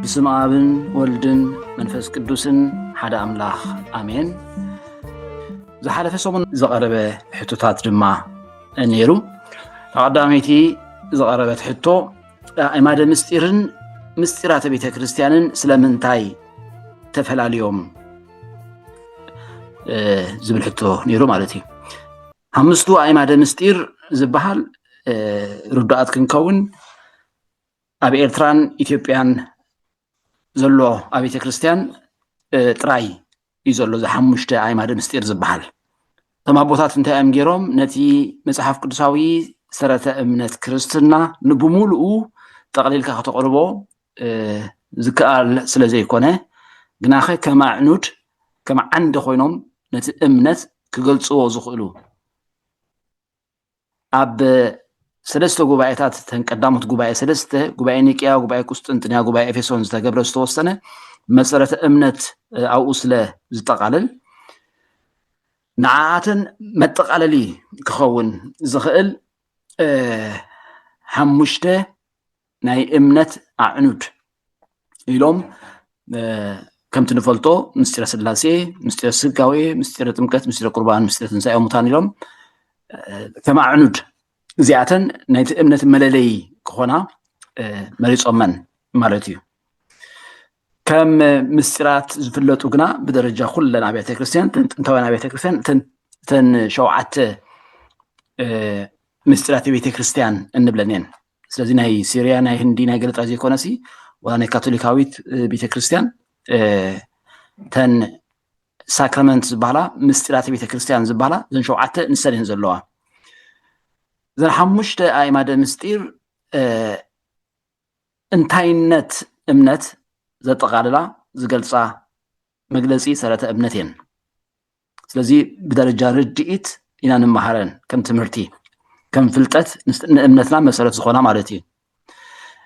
ብስም ኣብን ወልድን መንፈስ ቅዱስን ሓደ ኣምላኽ ኣሜን። ዝሓለፈ ሰሙን ዝቐረበ ሕቶታት ድማ ነይሩ። ተቐዳመይቲ ዝቐረበት ሕቶ ኣእማደ ምስጢርን ምስጢራተ ቤተ ክርስቲያንን ስለምንታይ ተፈላልዮም ዝብል ሕቶ ነይሩ ማለት እዩ። ሓምስቱ ኣእማደ ምስጢር ዝበሃል ርዱኣት ክንከውን ኣብ ኤርትራን ኢትዮጵያን ዘሎ ኣብያተ ክርስትያን ጥራይ እዩ ዘሎ እዚ ሓሙሽተ ኣይማደ ምስጢር ዝበሃል እቶም ኣቦታት እንታይ እዮም ገይሮም ነቲ መፅሓፍ ቅዱሳዊ ሰረተ እምነት ክርስትና ንብምሉኡ ጠቕሊልካ ከተቕርቦ ዝከኣል ስለ ዘይኮነ ግናኸ ከም ኣዕኑድ ከም ዓንዲ ኮይኖም ነቲ እምነት ክገልፅዎ ዝኽእሉ ኣብ ሰለስተ ጉባኤታት እተን ቀዳሞት ጉባኤ ሰለስተ ጉባኤ ኒቅያ፣ ጉባኤ ቁስጥንጥንያ፣ ጉባኤ ኤፌሶን ዝተገብረ ዝተወሰነ መሰረተ እምነት ኣብኡ ስለ ዝጠቓልል ንዓኣተን መጠቓለሊ ክኸውን ዝኽእል ሓሙሽተ ናይ እምነት ኣዕኑድ ኢሎም ከምቲ ንፈልጦ ምስጢረ ስላሴ ምስጢረ ስጋዌ ምስጢረ ጥምቀት ምስጢረ ቁርባን ምስጢረ ትንሳኤ ሙታን ኢሎም ከም ኣዕኑድ እዚኣተን ናይቲ እምነት መለለይ ክኾና መሪፆመን ማለት እዩ ከም ምስጢራት ዝፍለጡ ግና ብደረጃ ኩለን ኣብያተ ክርስትያን ጥንታውያን ኣብያተ ክርስትያን እተን ሸውዓተ ምስጢራት ቤተ ክርስትያን እንብለን እየን ስለዚ ናይ ሲርያ ናይ ህንዲ ናይ ገለ ጥራይ ዘይኮነ ሲ ዋላ ናይ ካቶሊካዊት ቤተ ክርስቲያን ተን ሳክራመንት ዝበሃላ ምስጢራተ ቤተ ክርስቲያን ዝበሃላ እዘን ሸውዓተ ንሰን እየን ዘለዋ እዘን ሓሙሽተ ኣእማደ ምስጢር እንታይነት እምነት ዘጠቓልላ ዝገልፃ መግለፂ ሰረተ እምነት እየን ስለዚ ብደረጃ ርድኢት ኢና ንመሃረን ከም ትምህርቲ ከም ፍልጠት ንእምነትና መሰረት ዝኾና ማለት እዩ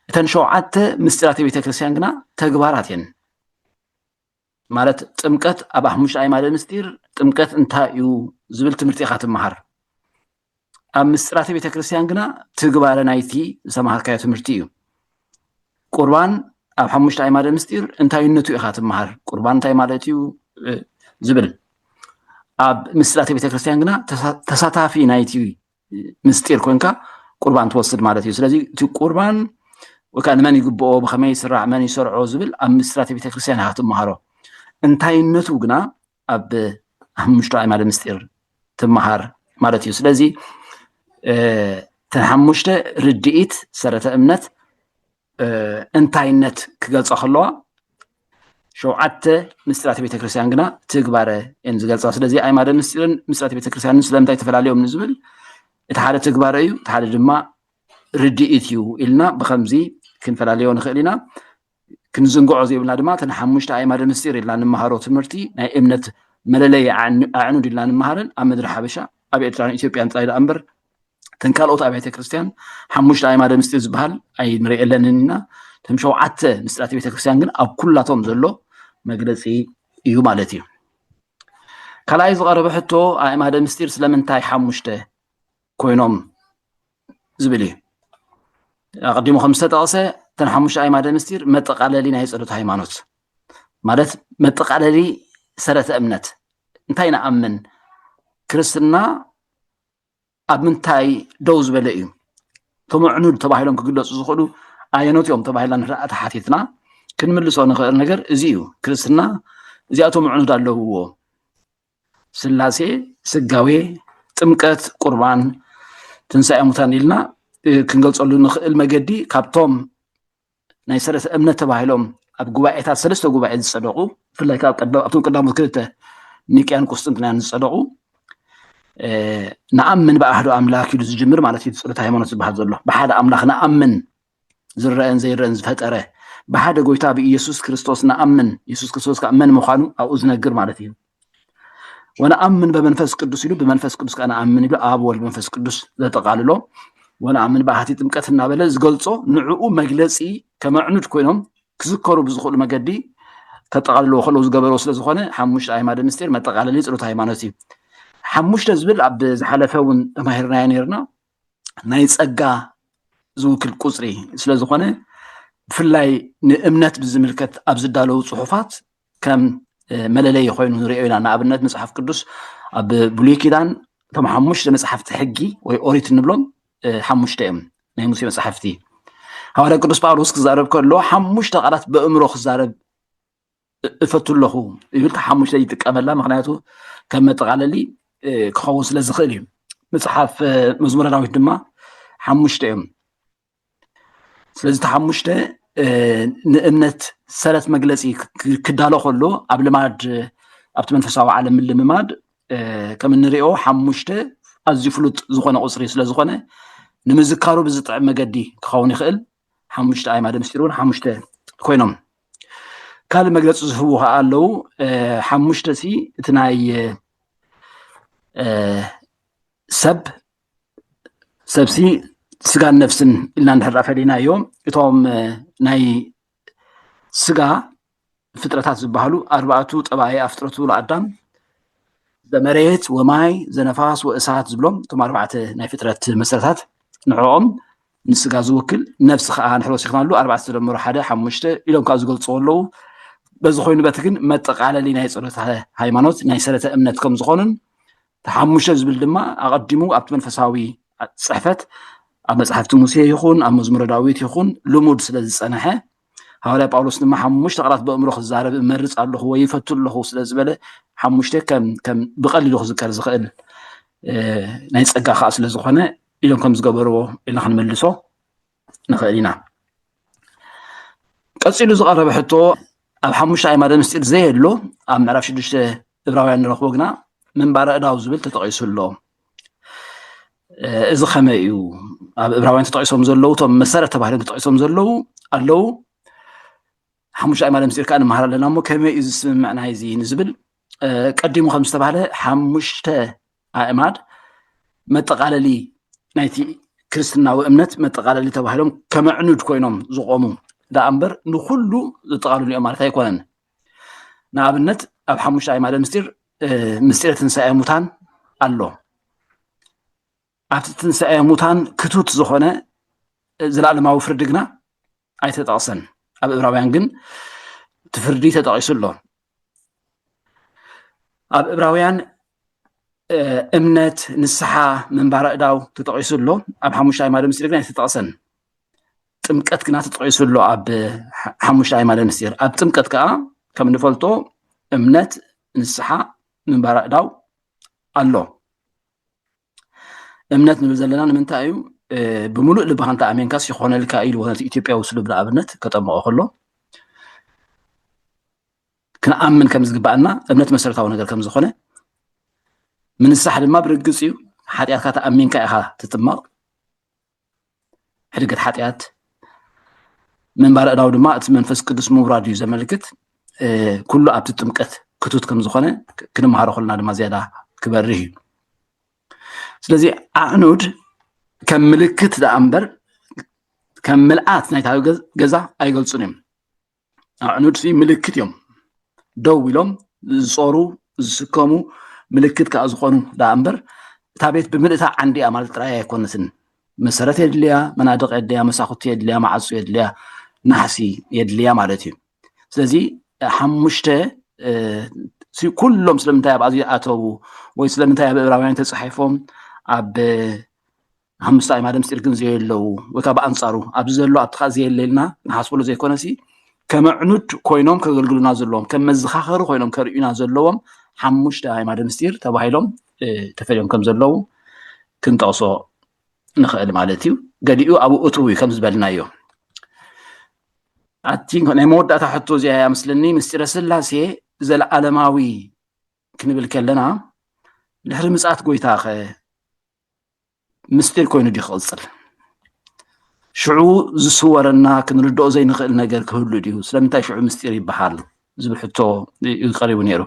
እተን ሸውዓተ ምስጢራት ቤተክርስትያን ግና ተግባራት እየን ማለት ጥምቀት ኣብ ሓሙሽተ ኣይማደ ምስጢር ጥምቀት እንታይ እዩ ዝብል ትምህርቲ ኢኻ ትመሃር ኣብ ምስጢራተ ቤተ ክርስቲያን ግና ትግባረ ናይቲ ዝተምሃርካዮ ትምህርቲ እዩ ቁርባን ኣብ ሓሙሽተ ኣይማደ ምስጢር እንታይነቱ ኢኻ ትምሃር ቁርባን እንታይ ማለት እዩ ዝብል ኣብ ምስጢራተ ቤተ ክርስቲያን ግና ተሳታፊ ናይቲ ምስጢር ኮንካ ቁርባን ትወስድ ማለት እዩ ስለዚ እቲ ቁርባን ወይከዓ ንመን ይግብኦ ብከመይ ይስራዕ መን ይሰርዖ ዝብል ኣብ ምስጢራተ ቤተ ክርስቲያን ኢኻ ትምሃሮ እንታይነቱ ግና ኣብ ሓሙሽተ ኣዕማደ ምስጢር ትመሃር ማለት እዩ ስለዚ እተን ሓሙሽተ ርድኢት ሰረተ እምነት እንታይነት ክገልፃ ከለዋ ሸውዓተ ምስጢራት ቤተክርስትያን ግና ትግባረ እየን ዝገልፃ ስለዚ ኣይማደ ምስጢርን ምስጢራት ቤተክርስትያንን ስለምንታይ ተፈላለዮም ንዝብል እቲ ሓደ ትግባረ እዩ እቲ ሓደ ድማ ርድኢት እዩ ኢልና ብከምዚ ክንፈላለዮ ንኽእል ኢና ክንዝንግዖ ዘይብልና ድማ እቲ ንሓሙሽተ ኣእማደ ምስጢር ኢልና ንመሃሮ ትምህርቲ ናይ እምነት መለለይ ኣዕኑድ ኢልና ንመሃረን ኣብ ምድሪ ሓበሻ ኣብ ኤርትራን ኢትዮጵያን ጥራይ ደኣ እምበር እተን ካልኦት ኣብያተ ክርስትያን ሓሙሽተ ኣይማደ ምስጢር ዝበሃል ኣይንርእየለንን ኢና እቶም ሸውዓተ ምስጢራት ቤተ ክርስትያን ግን ኣብ ኩላቶም ዘሎ መግለፂ እዩ ማለት እዩ ካልኣይ ዝቐረበ ሕቶ ኣእማደ ምስጢር ስለምንታይ ሓሙሽተ ኮይኖም ዝብል እዩ ኣቀዲሙ ከም ዝተጠቐሰ እተን ሓሙሽተ ኣይማደ ምስጢር መጠቃለሊ ናይ ፀሎት ሃይማኖት ማለት መጠቃለሊ ሰረተ እምነት እንታይ ንኣምን ክርስትና ኣብ ምንታይ ደው ዝበለ እዩ እቶም ኣዕኑድ ተባሂሎም ክግለፁ ዝኽእሉ ኣየኖት እዮም ተባሂልና ንርኣ ተሓቲትና ክንምልሶ ንኽእል ነገር እዚ እዩ ክርስትና እዚኣቶም ኣዕኑድ ኣለውዎ ስላሴ፣ ስጋዌ፣ ጥምቀት፣ ቁርባን፣ ትንሳኤ ሙታን ኢልና ክንገልፀሉ ንኽእል መገዲ ካብቶም ናይ ሰለስተ እምነት ተባሂሎም ኣብ ጉባኤታት ሰለስተ ጉባኤ ዝፀደቑ ብፍላይ ካብ ኣብቶም ቀዳሞት ክልተ ኒቅያን ቁስጥንጥንያን ዝፀደቑ ንኣምን ብኣህዶ ኣምላክ ኢሉ ዝጅምር ማለት እዩ ፀሎት ሃይማኖት ዝበሃል ዘሎ ብሓደ ኣምላክ ንኣምን ዝረኣን ዘይረኣን ዝፈጠረ ብሓደ ጎይታ ብኢየሱስ ክርስቶስ ንኣምን ኢየሱስ ክርስቶስ ከዓ መን ምዃኑ ኣብኡ ዝነግር ማለት እዩ ወነኣምን በመንፈስ ቅዱስ ኢሉ ብመንፈስ ቅዱስ ከዓ ንኣምን ኢሉ ኣብ ወልድ መንፈስ ቅዱስ ዘጠቃልሎ ወነኣምን ብኣሃቲ ጥምቀት እናበለ ዝገልፆ ንዕኡ መግለፂ ከመዕኑድ ኮይኖም ክዝከሩ ብዝኽእሉ መገዲ ከጠቃልልዎ ከለዉ ዝገበረው ስለዝኾነ ሓሙሽተ ኣይማደ ምስጢር መጠቃለሊ ፀሎት ሃይማኖት እዩ ሓሙሽተ ዝብል ኣብ ዝሓለፈ እውን ተማሂርናዮ ነርና ናይ ጸጋ ዝውክል ቁጽሪ ስለ ዝኾነ ብፍላይ ንእምነት ብዝምልከት ኣብ ዝዳለዉ ጽሑፋት ከም መለለይ ኮይኑ ንሪኦ ኢና ንኣብነት መፅሓፍ ቅዱስ ኣብ ብሉይ ኪዳን እቶም ሓሙሽተ መፅሓፍቲ ሕጊ ወይ ኦሪት እንብሎም ሓሙሽተ እዮም ናይ ሙሴ መፅሓፍቲ ሃዋርያ ቅዱስ ጳውሎስ ክዛረብ ከሎ ሓሙሽተ ቃላት በእምሮ ክዛረብ እፈቱ ኣለኹ ይብል ሓሙሽተ ይጥቀመላ ምክንያቱ ከም መጠቃለሊ ክኸውን ስለ ዝኽእል እዩ መፅሓፍ መዝሙረ ዳዊት ድማ ሓሙሽተ እዮም ስለዚ እቲ ሓሙሽተ ንእምነት ሰረት መግለፂ ክዳሎ ከሎ ኣብ ልማድ ኣብቲ መንፈሳዊ ዓለም ምልምማድ ከም እንሪኦ ሓሙሽተ ኣዝዩ ፍሉጥ ዝኾነ ቁፅሪ ስለዝኾነ ንምዝካሩ ብዝጥዕም መገዲ ክኸውን ይኽእል ሓሙሽተ ኣዕማደ ምስጢር እውን ሓሙሽተ ኮይኖም ካልእ መግለፂ ዝህቡ ከዓ ኣለዉ ሓሙሽተ ሲ እቲ ናይ ሰብ ሰብሲ ስጋን ነፍስን ኢልና እንድሕር ፈሊናዮ እቶም ናይ ስጋ ፍጥረታት ዝበሃሉ ኣርባዕቱ ጠባይ ኣፍጥረቱ ለኣዳም ዘመሬት ወማይ ዘነፋስ ወእሳት ዝብሎም እቶም ኣርባዕተ ናይ ፍጥረት መሰረታት ንዕኦም ንስጋ ዝውክል ነፍሲ ከዓ ንሕሮ ወሲኽናሉ ኣርባዕተ ተደምሮ ሓደ ሓሙሽተ ኢሎም ካብ ዝገልፅዎ ኣለዉ በዚ ኮይኑ በቲ ግን መጠቃለሊ ናይ ፀሎት ሃይማኖት ናይ ሰረተ እምነት ከም ዝኾኑን ተሓሙሽተ ዝብል ድማ ኣቐዲሙ ኣብቲ መንፈሳዊ ፅሕፈት ኣብ መፅሓፍቲ ሙሴ ይኹን ኣብ መዝሙረ ዳዊት ይኹን ልሙድ ስለ ዝፀንሐ ሃዋርያ ጳውሎስ ድማ ሓሙሽተ ቃላት በእምሮ ክዛረብ እመርፅ ኣለኹ ወይ ይፈቱ ኣለኹ ስለ ዝበለ ሓሙሽተ ከም ብቀሊሉ ክዝከር ዝኽእል ናይ ፀጋ ከዓ ስለ ዝኾነ ኢሎም ከም ዝገበርዎ ኢልና ክንመልሶ ንኽእል ኢና ቀፂሉ ዝቐረበ ሕቶ ኣብ ሓሙሽተ ኣይማደ ምስጢር ዘየሎ ኣብ ምዕራፍ ሽዱሽተ እብራውያን ንረኽቦ ግና ምንባረ እዳው ዝብል ተጠቂሱ ኣሎ እዚ ከመይ እዩ ኣብ እብራውያን ተጠቂሶም ዘለዉ እቶም መሰረት ተባሂሎም ተጠቂሶም ዘለዉ ኣለዉ ሓሙሽተ ኣእማደ ምስጢር ከዓ ንመሃር ኣለና እሞ ከመይ እዩ ዝስምምዕ ናይ እዚ ንዝብል ቀዲሙ ከም ዝተባሃለ ሓሙሽተ ኣእማድ መጠቃለሊ ናይቲ ክርስትናዊ እምነት መጠቃለሊ ተባሂሎም ከመዕኑድ ኮይኖም ዝቆሙ ደኣ እምበር ንኩሉ ዝጠቃልሉ እዮም ማለት ኣይኮነን ንኣብነት ኣብ ሓሙሽተ ኣይማደ ምስጢር ምስጢረ ትንሳኤ ሙታን ኣሎ ኣብቲ ትንሳኤ ሙታን ክቱት ዝኾነ ዘለኣለማዊ ፍርዲ ግና ኣይተጠቕሰን ኣብ እብራውያን ግን እቲ ፍርዲ ተጠቒሱ ኣሎ ኣብ እብራውያን እምነት ንስሓ ምንባር ኣእዳው ተጠቂሱ ኣሎ ኣብ ሓሙሽተ ኣእማደ ምስጢር ግን ኣይተጠቕሰን ጥምቀት ግና ተጠቂሱ ኣሎ ኣብ ሓሙሽተ ኣእማደ ምስጢር ኣብ ጥምቀት ከዓ ከም ንፈልጦ እምነት ንስሓ ምንባር ኣእዳው ኣሎ እምነት ንብል ዘለና ንምንታይ እዩ ብምሉእ ልብካ እንተ ኣሜንካስ ይኮነልካ ኢልዎ ነቲ ኢትዮጵያዊ ስሉብ ንኣብነት ከጠምቆ ከሎ ክንኣምን ከም ዝግባኣና እምነት መሰረታዊ ነገር ከም ዝኾነ ምንሳሕ ድማ ብርግፅ እዩ ሓጢኣትካ ተኣሚንካ ኢኻ ትጥመቕ ሕድገት ሓጢኣት ምንባር እዳው ድማ እቲ መንፈስ ቅዱስ ምውራድ እዩ ዘመልክት ኩሉ ኣብቲ ጥምቀት ክቱት ከም ዝኾነ ክንምሃሮ ከለና ድማ ዝያዳ ክበርህ እዩ ስለዚ ኣዕኑድ ከም ምልክት ደኣ እምበር ከም ምልኣት ናይታ ገዛ ኣይገልፁን እዮም ኣዕኑድ ሲ ምልክት እዮም ደው ኢሎም ዝፀሩ ዝስከሙ ምልክት ከዓ ዝኾኑ ዳኣ እምበር እታ ቤት ብምልእታ ዓንዲ እያ ማለት ጥራይ ኣይኮነትን መሰረት የድልያ መናድቕ የድልያ መሳኹቲ የድልያ መዓፁ የድልያ ናሕሲ የድልያ ማለት እዩ ስለዚ ሓሙሽተ ኩሎም ስለምንታይ ኣብ ኣዚ ኣተዉ ወይ ስለምንታይ ኣብ እብራውያን ተፃሒፎም ኣብ ሓሙስተ ኣዕማደ ምስጢር ግን ዘየለዉ ወይ ከዓ ብኣንፃሩ ኣብዚ ዘሎ ኣብቲ ከዓ ዘየለ ኢልና ንሓስበሉ ዘይኮነሲ ከም ኣዕኑድ ኮይኖም ከገልግሉና ዘለዎም ከም መዘኻኸሪ ኮይኖም ከርእዩና ዘለዎም ሓሙሽተ ኣዕማደ ምስጢር ተባሂሎም ተፈልዮም ከም ዘለዉ ክንጠቕሶ ንኽእል ማለት እዩ ገሊኡ ኣብ እትው እዩ ከም ዝበልናዮ ኣቲ ናይ መወዳእታ ሕቶ እዚኣ እያ ምስለኒ ምስጢረ ስላሴ ዘለዓለማዊ ክንብል ከለና ድሕሪ ምፅኣት ጎይታ ኸ ምስጢር ኮይኑ ድዩ ክቕፅል ሽዑ ዝስወረና ክንርድኦ ዘይንኽእል ነገር ክህሉ ድዩ ስለምንታይ ሽዑ ምስጢር ይበሃል ዝብል ሕቶ እዩ ቀሪቡ ነይሩ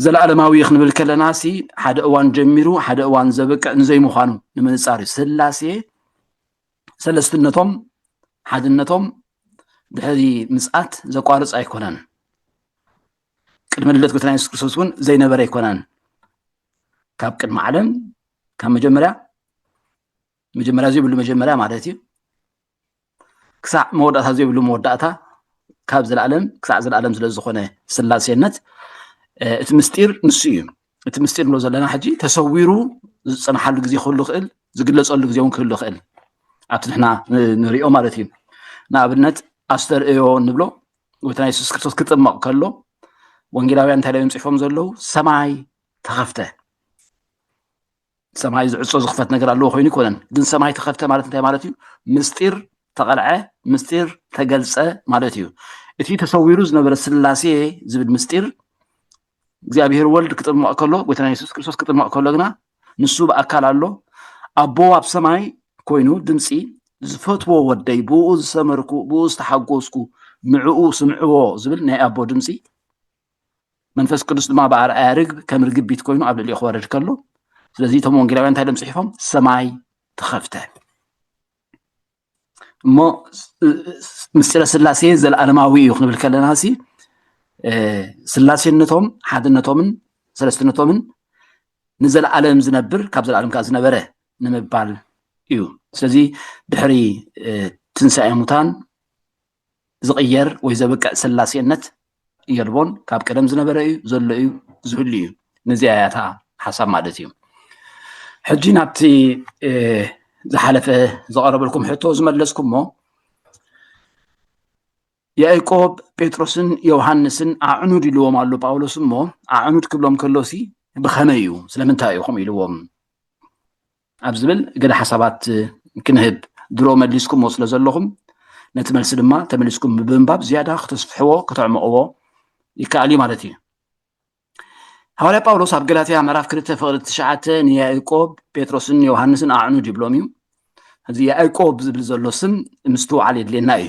ዘለኣለማዊ ክንብል ከለና ሲ ሓደ እዋን ጀሚሩ ሓደ እዋን ዘበቅዕ ንዘይምዃኑ ንምንፃር እዩ ስላሴ ሰለስትነቶም ሓድነቶም ድሕሪ ምፅኣት ዘቋርፅ ኣይኮነን ቅድሚ ልደት ጎይታና የሱስ ክርስቶስ እውን ዘይነበረ ኣይኮነን ካብ ቅድሚ ዓለም ካብ መጀመርያ መጀመርያ ዘይብሉ መጀመርያ ማለት እዩ ክሳዕ መወዳእታ ዘይብሉ መወዳእታ ካብ ዘለኣለም ክሳዕ ዘለኣለም ስለ ዝኾነ ስላሴነት እቲ ምስጢር ንሱ እዩ እቲ ምስጢር ንብሎ ዘለና ሕጂ ተሰዊሩ ዝፅናሓሉ ግዜ ክህሉ ይኽእል ዝግለፀሉ ግዜ እውን ክህሉ ይኽእል ኣብቲ ንሕና ንሪኦ ማለት እዩ ንኣብነት ኣስተርእዮ ንብሎ ጎይታና የሱስ ክርስቶስ ክጥመቕ ከሎ ወንጌላውያን እንታይ እዮም ፅሑፎም ዘለዉ ሰማይ ተኸፍተ ሰማይ ዝዕፆ ዝኽፈት ነገር ኣለዎ ኮይኑ ይኮነን ግን ሰማይ ተኸፍተ ማለት እንታይ ማለት እዩ ምስጢር ተቐልዐ ምስጢር ተገልፀ ማለት እዩ እቲ ተሰዊሩ ዝነበረ ስላሴ ዝብል ምስጢር እግዚኣብሔር ወልድ ክጥመቕ ከሎ ጎይታና የሱስ ክርስቶስ ክጥመቕ ከሎ ግና ንሱ ብኣካል ኣሎ ኣቦ ኣብ ሰማይ ኮይኑ ድምፂ ዝፈትዎ ወደይ ብኡ ዝሰመርኩ ብኡ ዝተሓጎስኩ ንዕኡ ስምዕዎ ዝብል ናይ ኣቦ ድምፂ መንፈስ ቅዱስ ድማ ብኣርኣያ ርግብ ከም ርግቢት ኮይኑ ኣብ ልዕሊኡ ክወርድ ከሎ ስለዚ እቶም ወንጌላውያን እንታይ ድም ፅሒፎም ሰማይ ተኸፍተ እሞ ምስጢረ ስላሴ ዘለኣለማዊ እዩ ክንብል ከለና ሲ ስላሴነቶም ሓድነቶምን ሰለስትነቶምን ንዘለኣለም ዝነብር ካብ ዘለኣለም ከዓ ዝነበረ ንምባል እዩ ስለዚ ድሕሪ ትንሳኤ ሙታን ዝቕየር ወይ ዘብቅዕ ስላሴነት የልቦን ካብ ቀደም ዝነበረ እዩ ዘሎ እዩ ዝህሉ እዩ ነዚኣ እያ እታ ሓሳብ ማለት እዩ ሕጂ ናብቲ ዝሓለፈ ዝቐረበልኩም ሕቶ ዝመለስኩሞ ያዕቆብ ጴጥሮስን ዮሃንስን ኣዕኑድ ኢልዎም ኣሎ ጳውሎስ እሞ ኣዕኑድ ክብሎም ከሎሲ ብኸመይ እዩ ስለምንታይ ኢኹም ኢልዎም ኣብ ዝብል ገለ ሓሳባት ክንህብ ድሮ መሊስኩምዎ ስለ ዘለኹም ነቲ መልሲ ድማ ተመሊስኩም ብምንባብ ዝያዳ ክተስፍሕዎ ከተዕምቕዎ ይከኣል እዩ ማለት እዩ ሃዋርያ ጳውሎስ ኣብ ገላትያ ምዕራፍ ክልተ ፍቕሪ ትሽዓተ ንያእቆብ ጴጥሮስን ዮሃንስን ኣዕኑድ ይብሎም እዩ እዚ ያእቆብ ዝብል ዘሎ ስም ምስትውዓል የድልየና እዩ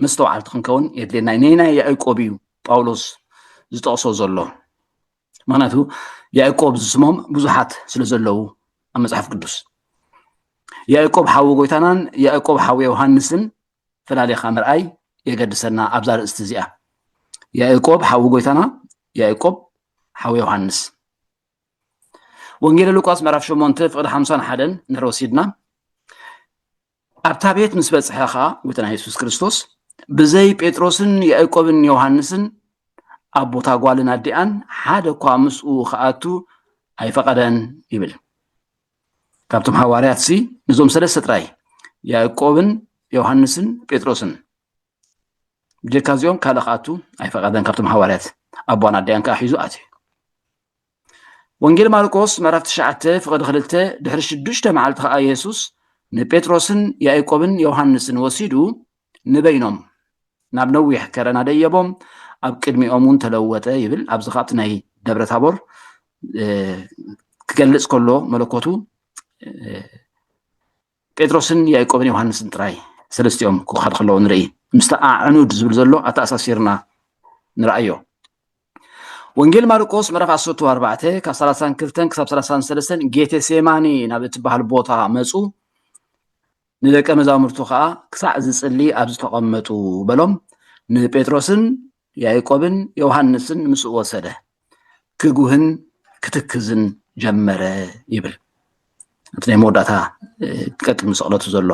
መስተውዓልቲ ክንከውን የድልየና እዩ ነናይ ያእቆብ እዩ ጳውሎስ ዝጠቕሶ ዘሎ ምክንያቱ ያዕቆብ ዝስሞም ብዙሓት ስለ ዘለዉ ኣብ መፅሓፍ ቅዱስ ያዕቆብ ሓዊ ጎይታናን ያዕቆብ ሓዊ ዮሃንስን ፈላሊኻ ምርኣይ የገድሰና ኣብዛ ርእስቲ እዚኣ ያዕቆብ ሓዊ ጎይታና ያዕቆብ ሓዊ ዮሃንስ ወንጌል ሉቃስ ምዕራፍ 8 ፍቅዲ 51 ንሕሮ ሲድና ኣብታ ቤት ምስ በጽሐ ኸኣ ጐይታና የሱስ ክርስቶስ ብዘይ ጴጥሮስን ያእቆብን ዮሃንስን ኣብ ቦታ ጓልን ኣዲኣን ሓደ እኳ ምስኡ ክኣቱ ኣይፈቐደን ይብል ካብቶም ሃዋርያት ሲ ንዞም ሰለስተ ጥራይ ያእቆብን ዮሃንስን ጴጥሮስን ብጀካ እዚኦም ካልእ ክኣቱ ኣይፈቐደን ካብቶም ሃዋርያት ኣቦን ኣዲኣን ከዓ ሒዙ ኣትዩ ወንጌል ማርቆስ ምዕራፍ ትሽዓተ ፍቕዲ ክልተ ድሕሪ ሽዱሽተ መዓልቲ ከዓ የሱስ ንጴጥሮስን ያእቆብን ዮሃንስን ወሲዱ ንበይኖም ናብ ነዊሕ ከረና ደየቦም ኣብ ቅድሚኦም እውን ተለወጠ ይብል ኣብዚ ካብቲ ናይ ደብረ ታቦር ክገልፅ ከሎ መለኮቱ ጴጥሮስን ያእቆብን ዮሃንስን ጥራይ ሰለስቲኦም ክውሓድ ከለዎ ንርኢ ምስቲ ኣዕኑድ ዝብል ዘሎ ኣተኣሳሲርና ንርኣዮ ወንጌል ማርቆስ ምዕራፍ 14 ካብ 32 ክሳብ 33 ጌቴ ሴማኒ ናብ እትበሃል ቦታ መፁ ንደቀ መዛሙርቱ ከዓ ክሳዕ ዝፅሊ ኣብ ዝተቐመጡ በሎም ንጴጥሮስን ያእቆብን ዮሃንስን ምስኡ ወሰደ፣ ክጉህን ክትክዝን ጀመረ ይብል እቲ ናይ መወዳእታ ቀጥል ምሰቕለቱ ዘሎ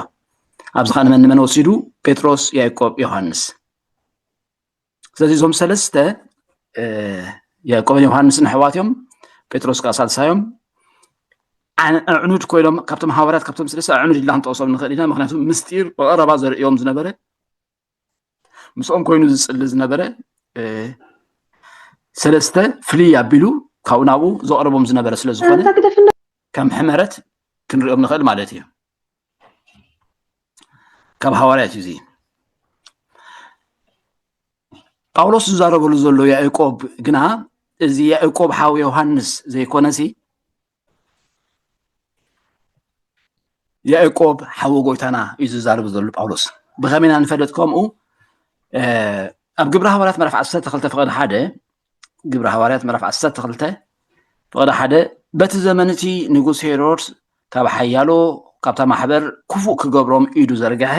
ኣብዚ ኸ ንመን ንመን ወሲዱ ጴጥሮስ ያዕቆብ ዮሃንስ ስለዚ እዞም ሰለስተ ያዕቆብን ዮሃንስን ኣሕዋት እዮም ጴጥሮስ ከዓ ሳልሳዮም ኣዕኑድ ኮይኖም ካብቶም ሃዋርያት ካብቶም ስለስተ ኣዕኑድ ኢልና ክንጠቕሶም ንኽእል ኢና ምክንያቱ ምስጢር ብቐረባ ዘርእዮም ዝነበረ ምስኦም ኮይኑ ዝፅሊ ዝነበረ ሰለስተ ፍልይ ኣቢሉ ካብኡ ናብኡ ዘቕርቦም ዝነበረ ስለ ዝኾነ ከም ሕመረት ክንሪኦም ንኽእል ማለት እዩ ካብ ሃዋርያት እዩ ጳውሎስ ዝዛረበሉ ዘሎ ያዕቆብ ግና እዚ ያዕቆብ ሓው ዮሃንስ ዘይኮነሲ ያእቆብ ሓወ ጎይታና እዩ ዝዛረብ ዘሎ ጳውሎስ ብኸመይ ኢና ንፈለጥ ከምኡ ኣብ ግብሪ ሃዋርያት ምዕራፍ 12 ፍቕዲ ሓደ ግብሪ ሃዋርያት ምዕራፍ 12 ፍቕዲ ሓደ በቲ ዘመን እቲ ንጉስ ሄሮድስ ካብ ሓያሎ ካብታ ማሕበር ክፉእ ክገብሮም ኢዱ ዘርግሐ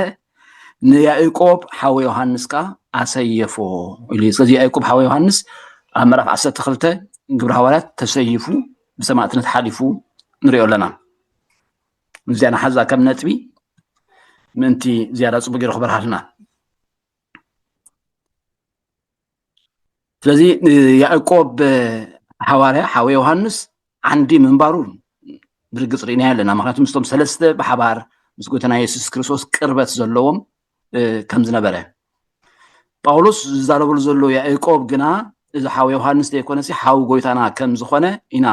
ንያእቆብ ሓወ ዮሃንስ ከ ኣሰየፎ ኢሉ ስለዚ ያእቆብ ሓወ ዮሃንስ ኣብ ምዕራፍ 12 ግብሪ ሃዋርያት ተሰይፉ ብሰማእትነት ሓሊፉ ንሪኦ ኣለና ምስዚኣ ንሓዛ ከም ነጥቢ ምእንቲ ዝያዳ ፅቡቅ ገይሩ ክበርሃልና ስለዚ ንያዕቆብ ሓዋርያ ሓወ ዮሃንስ ዓንዲ ምንባሩ ብርግፅ ርኢናዮ ኣለና ምክንያቱ ምስቶም ሰለስተ ብሓባር ምስ ጎተና የሱስ ክርስቶስ ቅርበት ዘለዎም ከም ዝነበረ ጳውሎስ ዝዛረበሉ ዘሎ ያዕቆብ ግና እዚ ሓው ዮሃንስ ዘይኮነ ሲ ሓው ጎይታና ከም ዝኾነ ኢና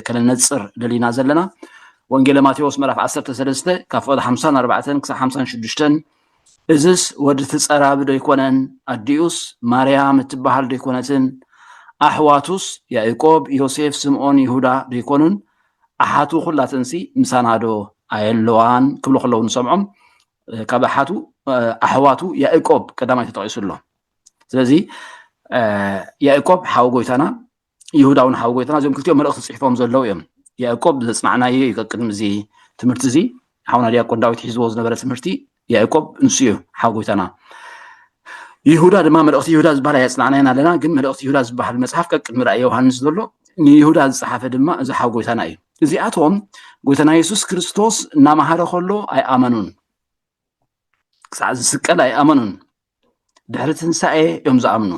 ከነነፅር ደሊና ዘለና ወንጌለ ማቴዎስ ምዕራፍ 13 ካብ ፍቕዲ 54 ክሳብ 56 እዝስ ወዲ ትፀራቢ ዶ ኣይኮነን ኣዲኡስ ማርያም እትበሃል ዶ ኣይኮነትን ኣሕዋቱስ ያዕቆብ ዮሴፍ ስምዖን ይሁዳ ዶ ኣይኮኑን ኣሓቱ ኩላተንሲ ምሳና ዶ ኣየለዋን ክብሉ ከለዉ ንሰምዖም ካብ ኣሓቱ ኣሕዋቱ ያእቆብ ቀዳማይ ተጠቂሱ ኣሎ ስለዚ ያእቆብ ሓዊ ጎይታና ይሁዳ እውን ሓዊ ጎይታና እዚኦም ክልቲኦም መልእኽቲ ፅሒፎም ዘለዉ እዮም ያእቆብ ዘፅናዕናዮ እዩ ቅድሚ እዚ ትምህርቲ እዚ ሓውና ዲያቆን ዳዊት ሒዝዎ ዝነበረ ትምህርቲ ያእቆብ ንሱ እዩ ሓዊ ጎይታና ይሁዳ ድማ መልእኽቲ ይሁዳ ዝበሃል ኣየፅናዕናየን ኣለና ግን መልእኽቲ ይሁዳ ዝበሃል መፅሓፍ ቀቅድሚ ራእይ ዮሃንስ ዘሎ ንይሁዳ ዝፀሓፈ ድማ እዚ ሓዊ ጎይታና እዩ እዚኣቶም ጎይታና የሱስ ክርስቶስ እናመሃረ ከሎ ኣይኣመኑን ክሳዕ ዝስቀል ኣይኣመኑን ድሕሪ ትንሳኤ እዮም ዝኣምኑ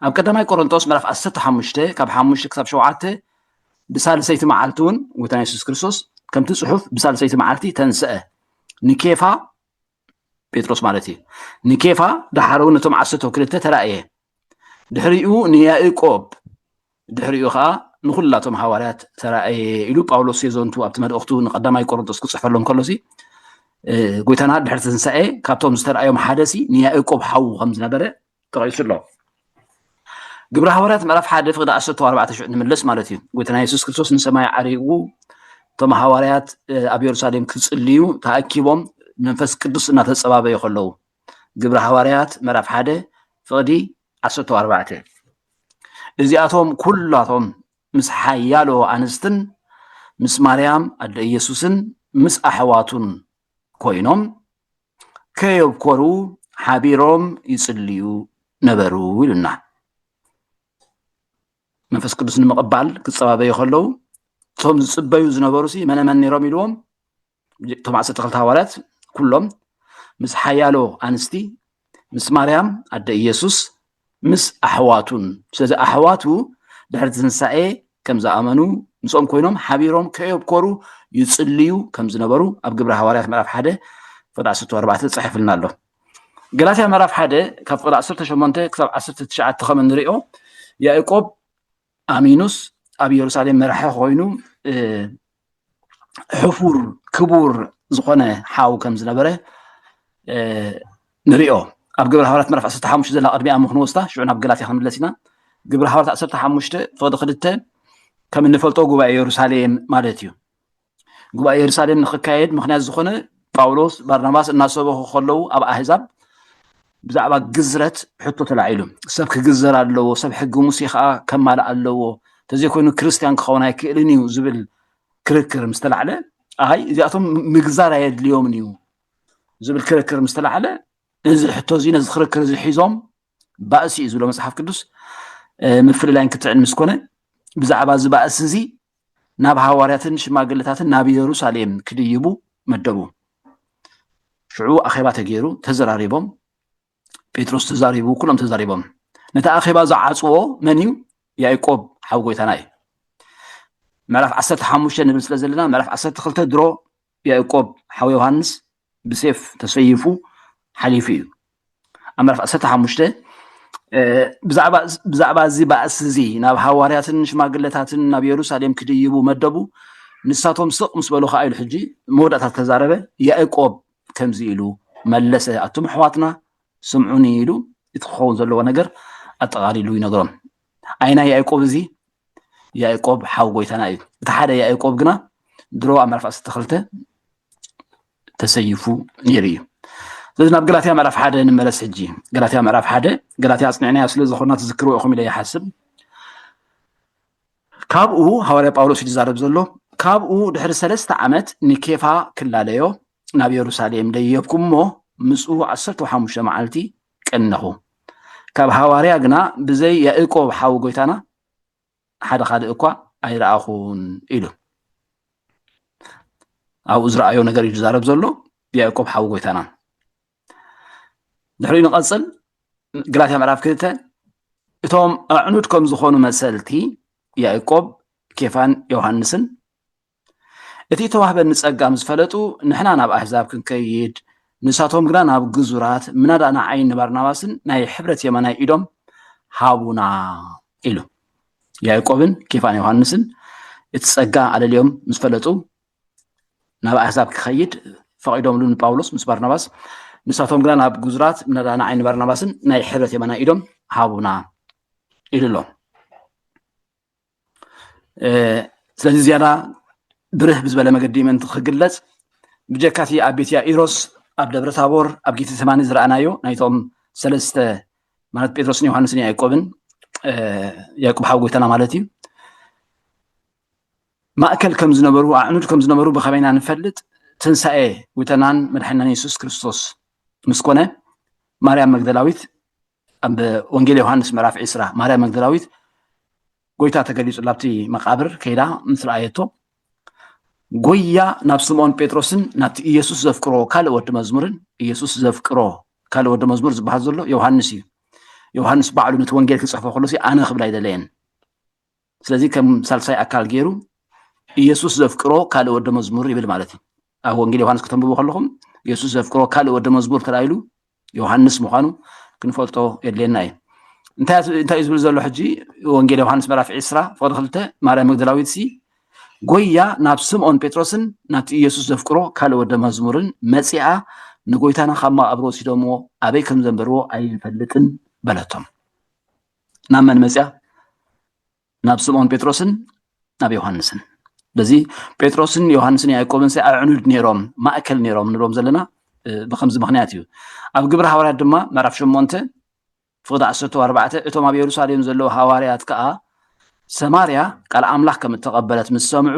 ኣብ ቀዳማይ ቆሮንጦስ ምዕራፍ 15 ካብ 5 ክሳብ 7 ብሳልሰይቲ መዓልቲ እውን ጎይታና የሱስ ክርስቶስ ከምቲ ፅሑፍ ብሳልሰይቲ መዓልቲ ተንስአ ንኬፋ ጴጥሮስ ማለት እዩ ንኬፋ ድሓር እውን ነቶም ዓሰርተ ክልተ ተራእየ ድሕሪኡ ንያእቆብ ድሕሪኡ ከዓ ንኩላቶም ሃዋርያት ተራእየ ኢሉ ጳውሎስ የዘንቱ ኣብቲ መልእኽቱ ንቀዳማይ ቆሮንቶስ ክፅሕፈሎም ከሎ ሲ ጎይታና ድሕሪ ትንሳኤ ካብቶም ዝተረኣዮም ሓደ ሲ ንያእቆብ ሓዉ ከም ዝነበረ ተቐይሱ ኣሎ። ግብረ ሃዋርያት ምዕራፍ ሓደ ፍቅዲ ዓሰርተ ኣርባዕተ ሽዑ ንመለስ ማለት እዩ ጎይታና የሱስ ክርስቶስ ንሰማይ ዓሪጉ እቶም ሃዋርያት ኣብ የሩሳሌም ክጽልዩ ተኣኪቦም መንፈስ ቅዱስ እናተጸባበዩ ከለዉ ግብረ ሃዋርያት ምዕራፍ ሓደ ፍቕዲ ዓሰርተ ኣርባዕተ እዚኣቶም ኩላቶም ምስ ሓያሎ ኣንስትን ምስ ማርያም ኣደ ኢየሱስን ምስ ኣሕዋቱን ኮይኖም ከየብኮሩ ሓቢሮም ይጽልዩ ነበሩ ኢሉና መንፈስ ቅዱስ ንምቕባል ክፀባበዩ ከለዉ እቶም ዝፅበዩ ዝነበሩ ሲ መነመን ነይሮም ኢልዎም እቶም ዓሰርተ ክልተ ሃዋርያት ኩሎም ምስ ሓያሎ ኣንስቲ ምስ ማርያም ኣደ ኢየሱስ ምስ ኣሕዋቱን ስለዚ ኣሕዋቱ ድሕሪ ትንሳኤ ከም ዝኣመኑ ምስኦም ኮይኖም ሓቢሮም ከየብኮሩ ይጽልዩ ከም ዝነበሩ ኣብ ግብረ ሃዋርያት ምዕራፍ ሓደ ፍቅዲ ዓሰርተ ኣርባዕተ ተጻሒፉልና ኣሎ ገላትያ ምዕራፍ ሓደ ካብ ፍቅዲ ዓሰርተ ሸሞንተ ክሳብ ዓሰርተ ትሽዓተ ከም እንሪኦ ያእቆብ ኣሚኑስ ኣብ የሩሳሌም መራሒ ኮይኑ ሕፉር ክቡር ዝኾነ ሓው ከም ዝነበረ ንሪኦ ኣብ ግብረ ሃዋርያት ምዕራፍ 15 ዘላ ቅድሚኣ ምክንወስታ ሽዑ ናብ ገላትያ ክንምለስ ኢና ግብረ ሃዋርያት 15 ፍቅዲ ክልተ ከም እንፈልጦ ጉባኤ የሩሳሌም ማለት እዩ ጉባኤ የሩሳሌም ንክካየድ ምክንያት ዝኾነ ጳውሎስ ባርናባስ እናሰበኹ ከለዉ ኣብ ኣህዛብ ብዛዕባ ግዝረት ሕቶ ተላዒሉ ሰብ ክግዘር ኣለዎ ሰብ ሕጊ ሙሴ ከዓ ከማልእ ኣለዎ ተዘይኮይኑ ክርስትያን ክኸውን ኣይክእልን እዩ ዝብል ክርክር ምስ ተላዕለ ኣይ እዚኣቶም ምግዛር ኣየድልዮምን እዩ ዝብል ክርክር ምስ ተላዕለ እዚ ሕቶ እዚ ነዚ ክርክር እዚ ሒዞም ባእሲ እዩ ዝብሎ መፅሓፍ ቅዱስ ምፍልላይን ክትዕን ምስ ኮነ ብዛዕባ እዚ ባእሲ እዚ ናብ ሃዋርያትን ሽማግለታትን ናብ የሩሳሌም ክድይቡ መደቡ ሽዑ ኣኼባ ተገይሩ ተዘራሪቦም ጴጥሮስ ተዛሪቡ ኩሎም ተዛሪቦም ነቲ ኣኼባ ዝዓፅዎ መን እዩ ያዕቆብ ሓው ጎይታና እዩ ምዕራፍ ዓሰርተ ሓሙሽተ ንብል ስለ ዘለና ምዕራፍ ዓሰርተ ክልተ ድሮ ያዕቆብ ሓው ዮሃንስ ብሴፍ ተሰይፉ ሓሊፉ እዩ። ኣብ ምዕራፍ ዓሰርተ ሓሙሽተ ብዛዕባ እዚ ባእሲ እዚ ናብ ሃዋርያትን ሽማግለታትን ናብ የሩሳሌም ክድይቡ መደቡ ንሳቶም ስቕ ምስ በሉ ከዓ ኢሉ ሕጂ መወዳእታ ተዛረበ ያእቆብ ከምዚ ኢሉ መለሰ ኣቱም ኣሕዋትና ስምዑኒ ኢሉ እቲ ክኸውን ዘለዎ ነገር ኣጠቓሊሉ ይነግሮም ዓይና ያዕቆብ እዚ ያዕቆብ ሓው ጎይታና እዩ እቲ ሓደ ያዕቆብ ግና ድሮ ኣብ ምዕራፍ ዓሰርተ ክልተ ተሰይፉ ነይሩ እዩ ስለዚ ናብ ገላትያ ምዕራፍ ሓደ ንመለስ ሕጂ ገላትያ ምዕራፍ ሓደ ገላትያ ኣፅኒዕናያ ስለ ዝኾና ትዝክርዎ ኢኹም ኢለ ይሓስብ ካብኡ ሃዋርያ ጳውሎስ እዩ ዝዛረብ ዘሎ ካብኡ ድሕሪ ሰለስተ ዓመት ንኬፋ ክላለዮ ናብ የሩሳሌም ደየብኩ እሞ ምስኡ ዓሰርተ ሓሙሽተ መዓልቲ ቀነኹ ካብ ሃዋርያ ግና ብዘይ ያእቆብ ሓዊ ጎይታና ሓደ ካልእ እኳ ኣይረኣኹን ኢሉ ኣብኡ ዝረኣዮ ነገር እዩ ዝዛረብ ዘሎ ያእቆብ ሓዊ ጎይታና ድሕሪኡ ንቐፅል ግላትያ ምዕራፍ ክልተ እቶም ኣዕኑድ ከም ዝኾኑ መሰልቲ ያእቆብ ኬፋን ዮሃንስን እቲ እተዋህበኒ ጸጋ ምስ ፈለጡ፣ ንሕና ናብ ኣህዛብ ክንከይድ፣ ንሳቶም ግና ናብ ግዙራት፣ ምናዳ ንዓይን ንባርናባስን ናይ ሕብረት የማናይ ኢዶም ሃቡና ኢሉ። ያእቆብን ኬፋን ዮሃንስን እቲ ጸጋ ኣለልዮም ምስ ፈለጡ፣ ናብ ኣህዛብ ክኸይድ ፈቒዶምሉ ንጳውሎስ ምስ ባርናባስ፣ ንሳቶም ግና ናብ ግዙራት፣ ምናዳ ንዓይን ንባርናባስን ናይ ሕብረት የማናይ ኢዶም ሃቡና ኢሉ ኣሎ። ስለዚ ዝያዳ ብርህ ብዝበለ መገዲ ምእንቲ ክግለጽ ብጀካ እቲ ኣብ ቤት ያኢሮስ ኣብ ደብረ ታቦር ኣብ ጌተ ሰማኒ ዝረኣናዮ ናይቶም ሰለስተ ማለት ጴጥሮስን ዮሃንስን ያዕቆብን ያዕቆብ ሓው ጎይታና ማለት እዩ ማእከል ከም ዝነበሩ ኣዕኑድ ከም ዝነበሩ ብኸመይና ንፈልጥ ትንሳኤ ጎይታናን መድሓናን የሱስ ክርስቶስ ምስ ኮነ ማርያም መግደላዊት ኣብ ወንጌል ዮሃንስ ምዕራፍ ዒስራ ማርያም መግደላዊት ጎይታ ተገሊጹ ላብቲ መቃብር ከይዳ ምስ ረኣየቶ ጎያ ናብ ስምዖን ጴጥሮስን ናብቲ ኢየሱስ ዘፍቅሮ ካልእ ወዲ መዝሙርን ኢየሱስ ዘፍቅሮ ካልእ ወዲ መዝሙር ዝበሃል ዘሎ ዮሃንስ እዩ ዮሃንስ ባዕሉ ነቲ ወንጌል ክጽሕፎ ከሎሲ ኣነ ክብላ ኣይደለየን ስለዚ ከም ሳልሳይ ኣካል ገይሩ ኢየሱስ ዘፍቅሮ ካልእ ወደ መዝሙር ይብል ማለት እዩ ኣብ ወንጌል ዮሃንስ ከተንብቡ ከለኹም ኢየሱስ ዘፍቅሮ ካልእ ወደ መዝሙር ተላኢሉ ዮሃንስ ምዃኑ ክንፈልጦ የድልየና እዩ እንታይ እንታይ እዩ ዝብል ዘሎ ሕጂ ወንጌል ዮሃንስ ምዕራፍ ዕስራ ፍቅዲ ክልተ ማርያም መግደላዊት ሲ ጎያ ናብ ስምኦን ጴጥሮስን ናብቲ ኢየሱስ ዘፍቅሮ ካልእ ወደ መዝሙርን መፂኣ ንጎይታና ካብ መቃብር ወሲዶምዎ ኣበይ ከም ዘንበርዎ ኣይንፈልጥን በለቶም ናብ መን መፅያ ናብ ስምዖን ጴጥሮስን ናብ ዮሃንስን በዚ ጴጥሮስን ዮሃንስን ያዕቆብን ሲ ኣዕኑድ ነይሮም ማእከል ነይሮም ንብሎም ዘለና ብከምዚ ምክንያት እዩ ኣብ ግብሪ ሃዋርያት ድማ ምዕራፍ ሸሞንተ ፍቅዲ ዓሰርተ ኣርባዕተ እቶም ኣብ የሩሳሌም ዘለዉ ሃዋርያት ከዓ ሰማርያ ቃል ኣምላኽ ከም እተቐበለት ምስ ሰምዑ